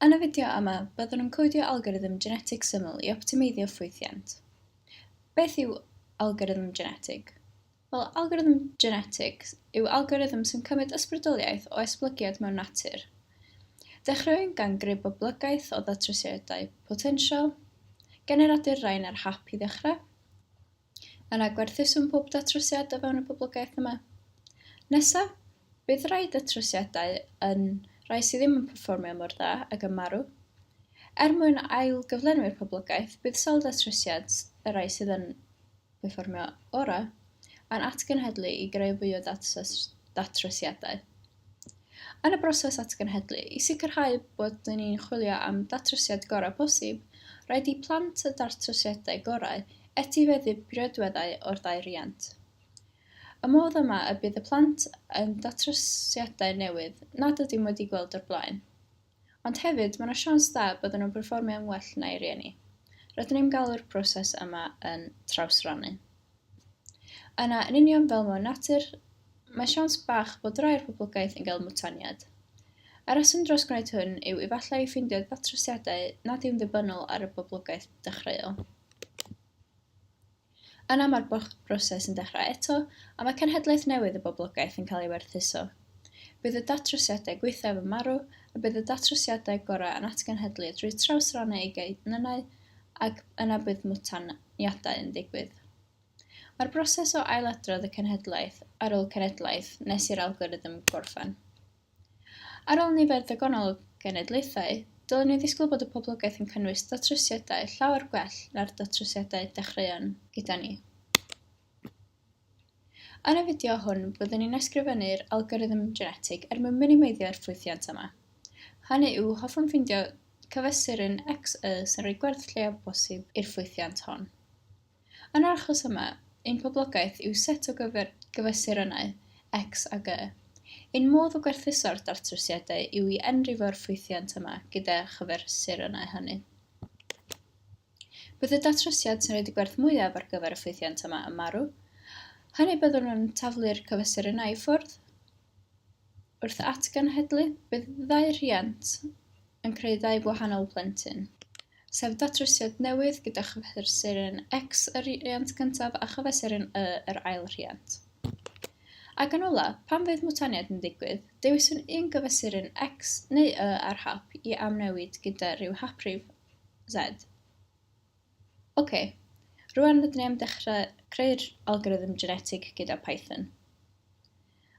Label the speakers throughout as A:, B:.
A: Yn y fideo yma, byddwn yn codio algorithm genetig syml i optimeiddio ffwythiant. Beth yw algorithm genetig? Wel, algorithm genetig yw algorithm sy'n cymryd ysbrydoliaeth o esblygiad mewn natur. Dechreuwn gan greu boblogaeth o ddatrysiadau potensial, generadur rain ar hap i ddechrau, Yna gwerthusom pob datrysiad o fewn y poblogaeth yma. Nesa, bydd rhai datrysiadau yn rhai sydd ddim yn perfformio mor dda ac yn marw. Er mwyn ail-gyflenwi'r poblogaeth, bydd sawl datrysiad, y rhai sydd yn perfformio orau, yn atgenhedlu i greu fwy o datrysiadau. Yn y broses atgenhedlu, i sicrhau bod ni'n chwilio am ddatrysiad gorau posib, rhaid i plant y datrysiadau gorau etifeddu priodweddau o'r ddau riant. Y modd yma y bydd y plant yn datrysiadau newydd nad ydym wedi gweld o'r blaen. Ond hefyd, mae yna siawns da bydden nhw'n perfformio yn well na'i rieni. Rydyn ni'n galw'r proses yma yn trawsrannu. Yna, yn union fel mewn natur, mae siawns bach bod rai o'r poblogaeth yn cael mwtaniad. Y rheswm dros gwneud hwn yw efallai i ffeindio datrysiadau nad yw'n ddibynnol ar y boblogaeth dechreuol. Yna mae'r broses yn dechrau eto, a mae cenhedlaeth newydd y boblogaeth yn cael ei werthuso. Bydd y datrysiadau gwaethaf yn marw, a bydd y datrysiadau gorau yn atgenhedlu drwy trawsrannu eu genynnau, ac yna bydd mwtaniadau yn digwydd. Mae'r broses o ailadrodd y cenhedlaeth ar ôl cenhedlaeth nes i'r algorithm gorffen. Ar ôl nifer ddigonol o genedlaethau, dylwn ni ddisgwyl bod y poblogaeth yn cynnwys datrysiadau llawer gwell na'r datrysiadau dechreuon gyda ni. Yn y fideo hwn, byddwn ni'n ysgrifennu'r algorithm genetig er mwyn minimeiddio'r ffwythiant yma. Hynny yw, hoffwn ffeindio cyfesurin XY sy'n rhoi gwerth lleiaf o bosib i'r ffwythiant hon. Yn yr achos yma, ein poblogaeth yw set o gyfesurynnau, X ag Y. Ein modd o gwerthuso'r datrysiadau yw i enrifo'r ffwythiant yma gyda chyfesurynnau hynny. Bydd y datrysiad sy'n rhaid y gwerth mwyaf ar gyfer y ffwythiant yma yn marw. Hynny byddwn yn taflu'r cyfesurynnau i ffwrdd. Wrth atgenhedlu, bydd ddau rhiant yn creu ddau wahanol blentyn, sef datrysiad newydd gyda chyfesurin X y rhiant cyntaf a chyfesurin Y yr ail rhiant. Ac yn ola, pan fydd mwtaniaid yn digwydd, dewiswn un gyfesurin X neu Y ar hap i amnewid gyda rhyw haprif Z. Ok, rwan rydyn ni am dechrau creu'r algorithm genetig gyda Python.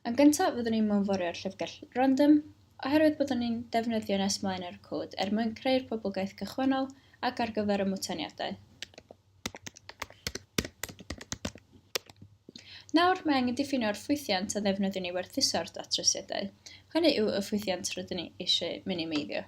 A: Yn gyntaf fyddwn ni'n mewnforio'r llyfrgell random, oherwydd byddwn ni'n defnyddio nes mlaen ar y cod er mwyn creu'r poblogaeth gychwynnol ac ar gyfer y mwtaniadau. Nawr, mae angen diffinio'r ffwythiant a ddefnyddiwn ni werthuso'r datrysiadau. Hynny yw y ffwythiant rydyn ni eisiau minimeiddio.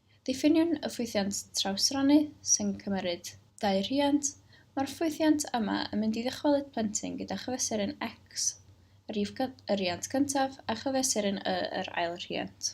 A: Diffiniwn y ffwythiant trawsrannu sy'n cymeryd dau rhiant, Mae'r ffwythiant yma yn mynd i ddychwelyd plentyn gyda chyfesurin X, y rhif y riant cyntaf, a chyfesurin Y, yr ail rhiant.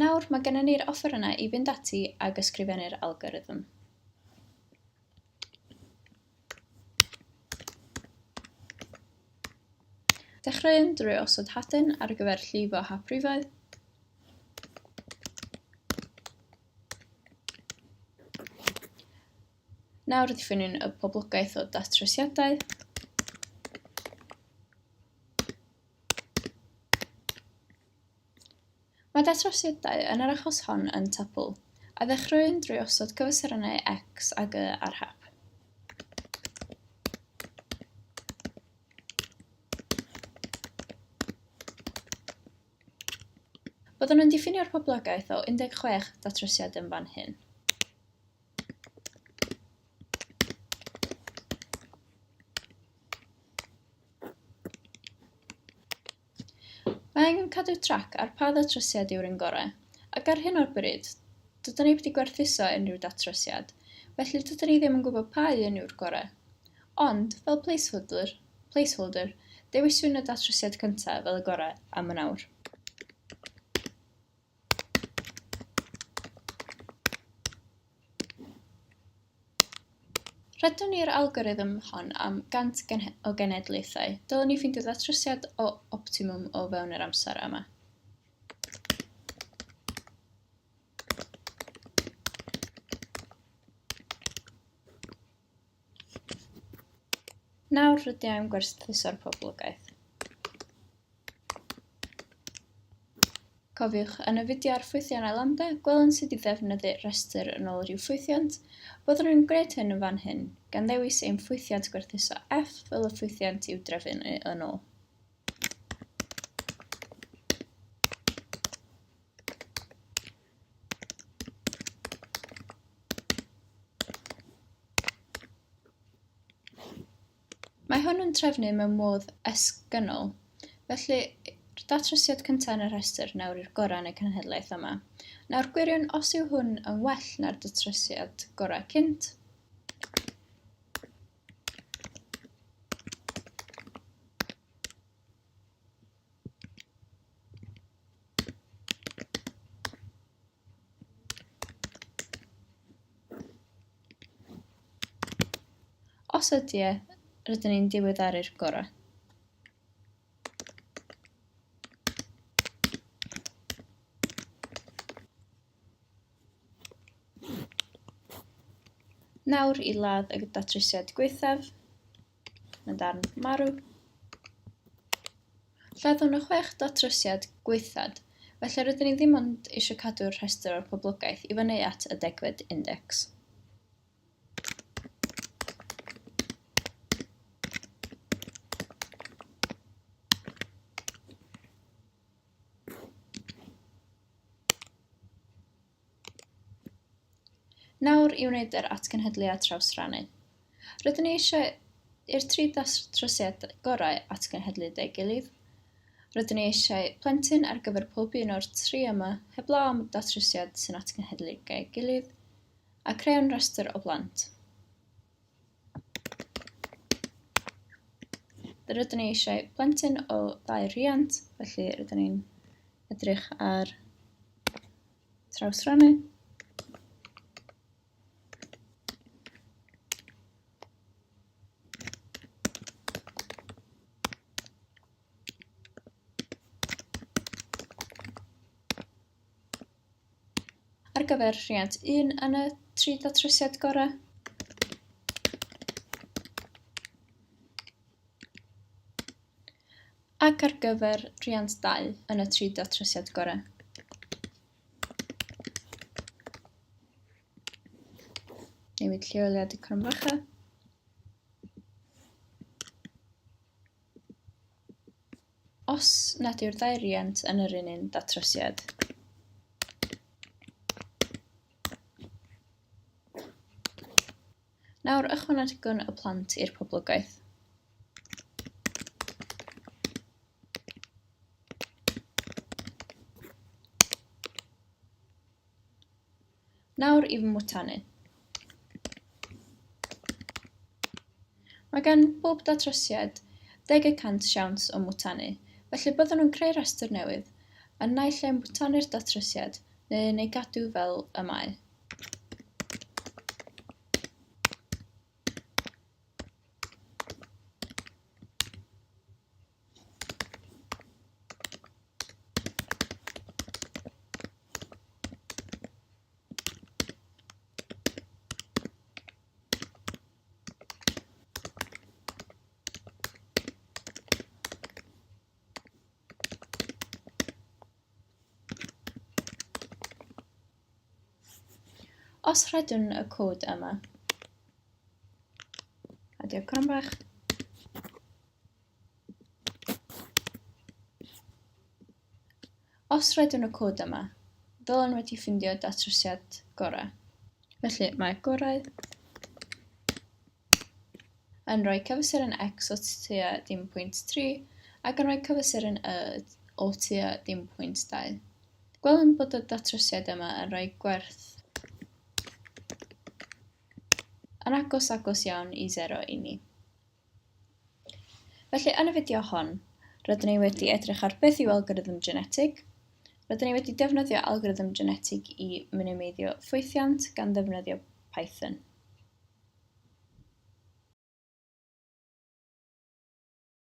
A: Nawr, mae gennym ni'r offerynnau i fynd ati ag ysgrifennu'r algorithm. Dechreuwn drwy osod hadyn ar gyfer llifo hap rifau. Nawr ddiffynwn y poblogaeth o datrysiadau. Mae datrysiadau yn yr achos hon yn Tuple, a ddechreuwn drwy osod cyfesurynnau X ag Y ar hap. Byddwn yn diffinio'r poblogaeth o 16 datrysiad yn fan hyn. Mae angen cadw trac ar pa ddatrysiad yw'r un gorau, ac ar hyn o'r bryd, dydyn ni wedi gwerthuso unrhyw datrysiad, felly dydyn ni ddim yn gwybod pa un yw'r gorau. Ond, fel placeholder, placeholder, dewiswn y datrysiad cyntaf fel y gorau am yn awr. Rydyn ni'r algorithm hon am 100 gen o genedlaethau. Dylwn ni ffeindio datrysiad o optimwm o fewn yr amser yma. Nawr rydw i'n gwerthuso'r poblogaeth. Cofiwch, yn y fideo ar ffwythiannau Lambda, gwelwn sut i ddefnyddu rhestr yn ôl rhyw ffwythiant. Byddwn yn gwneud hyn yn fan hyn, gan ddewis ein ffwythiant gwerthuso F fel y ffwythiant i'w drefnu yn ôl. Mae hwn yn trefnu mewn modd esgynnol, felly datrysiad cyntaf yn y rhestr nawr i'r gorau yn y cenhedlaeth yma. Nawr gwiriwn os yw hwn yn well na'r datrysiad gorau cynt. Os ydy e, rydyn ni'n diweddaru'r gorau. Nawr i ladd y datrysiad gwaethaf. yn darn marw. Lladdwn y chwech datrysiad gwaethad, felly rydyn ni ddim ond eisiau cadw'r rhestr o'r poblogaeth i fyny at y degfed index. Nawr i wneud yr atgenhedliad trawsrannu. Rydyn ni eisiau i'r tri datrosiad gorau atgenhedlu deu gilydd. Rydyn ni eisiau plentyn ar gyfer pob un o'r tri yma heblaw am datrosiad sy'n atgenhedlu deu gilydd, a creu'n rhestr o blant. Rydyn ni eisiau plentyn o ddau rhiant, felly rydyn ni'n edrych ar trawsrannu. ar gyfer rhiant 1 yn y tri datrysiad gorau. ac ar gyfer rhiant 2 yn y tri datrysiad gorau. Newid lleoliad y cromfacha. Os nad yw'r ddau riant yn yr un un datrysiad. Nawr ychwanegwn y plant i'r poblogaeth. Nawr i fy mwtanu. Mae gan bob datrysiad deg y cant siawns o mwtanu, felly byddwn yn creu rhestr newydd, yn naill ai mwtanu'r datrysiad neu yn ei gadw fel y mae. Os rhedwn y cod yma, a diolch cron bach, Os rydyn y cod yma, ddylen wedi ffindio datrysiad gorau. Felly mae gorau yn rhoi cyfesuron x o tua dim pwynt 3 ac yn rhoi cyfesuron y o tua dim pwynt 2. Gwelwn bod y datrysiad yma yn rhoi gwerth yn agos agos iawn i 0 i ni. Felly, yn y fideo hon, rydyn ni wedi edrych ar beth yw algorithm genetig, rydyn ni wedi defnyddio algorithm genetig i minimeiddio ffwythiant gan ddefnyddio Python.